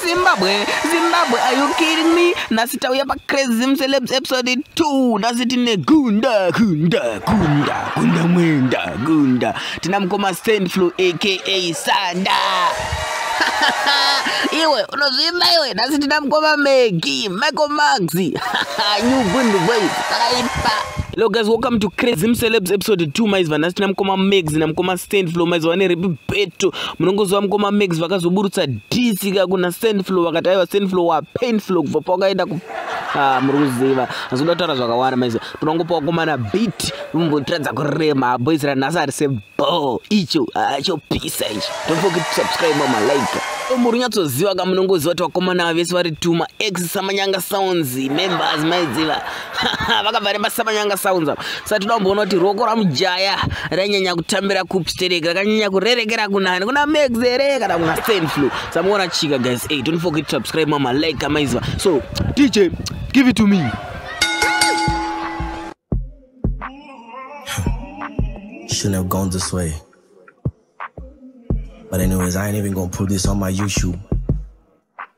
Zimbabwe, Zimbabwe, are you kidding me? Nasi tauya pa Crazy Zim Celebs episode 2. Nasi tine gunda, gunda, gunda, gunda mwenda, gunda. Tina mkoma stand flow aka Sanda. iwe unozvimba iwe nasi tina mkoma Maggie, Michael Max. New Gundu Boys, takaipa. Hello guys, welcome to Crazy Celebs episode 2 maiziva nhasi tina mkoma Mags na mkoma Stand Flow maiziva ne Ripi Beto munongoziva mukoma max vakazoburutsa disika kuna sandflow vakati aiva sandflow wapainflow kubva pawakaenda ku ah, muri kuziva azoda kutaura zvakawanda maizv tinongopa wakomana bit vombotiradza kurema boys ranhasi ari sebo icho ah, chopisa icho tofoki subscribe malaika muri nyatsoziva ka munongoziva kuti vakomana vese vari tuma ex samanyanga sounds members maiziva vakabva rebasa manyanga sounds apa saka toda kumboona kuti ruoko ramujaya rainyanya kutambira kupi sterek rakanyanya kurerekera kunani kuna max here kana kuna stand flu samuona chika guys hey, don't forget to subscribe mama like kamaiziva so dj give it to me Shouldn't have gone this way. But anyways, I ain't even gonna put this on my YouTube.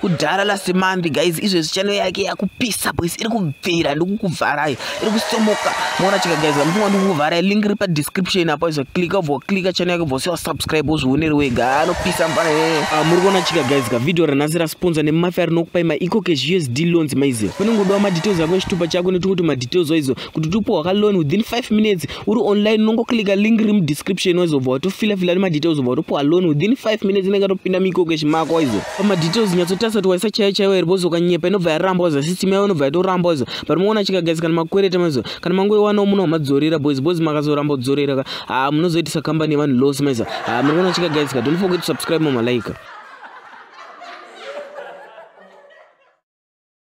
kudhara last month guys izvezvi chano yake yakupisa boys iri kubvira ndikukuvharai iri kusomoka moona chika guys vamufunga ndikukuvharai link iri padescription apo izvo klika ubva klika chano yake ubva usiwa subscribe uzvioneri wega anopisa mfana ah, muri kuona chika guys ka video ranhasi rasponsa nemafia rinokupai maecocash usd loans maiziva panongodawa madetails ako echitupa chako nekuti madetails waizo kuti tipuwa ka loan within 5 minutes uri online unongoclicka link riri mudescription wazobva watofilafila ne madetails obva watopuwa loan within 5 minutes inenge atopinda mikokeshi mako waizo pamadetails nyatsotarisa kuti waisa chaiyo chaiyo here bozokanyepa inobva yaramba waizo system yavo inobva yatoramba waizo but moona chikagasi kana makwereta maizo kana mangoiwanawo muno wamadzorera boys boys makazoramba kudzorera ka haa ah, munozoitisa kambani yevanhu loss maizo haa ah, muri kuona chikagasi ka don't forget to subscribe mamalaika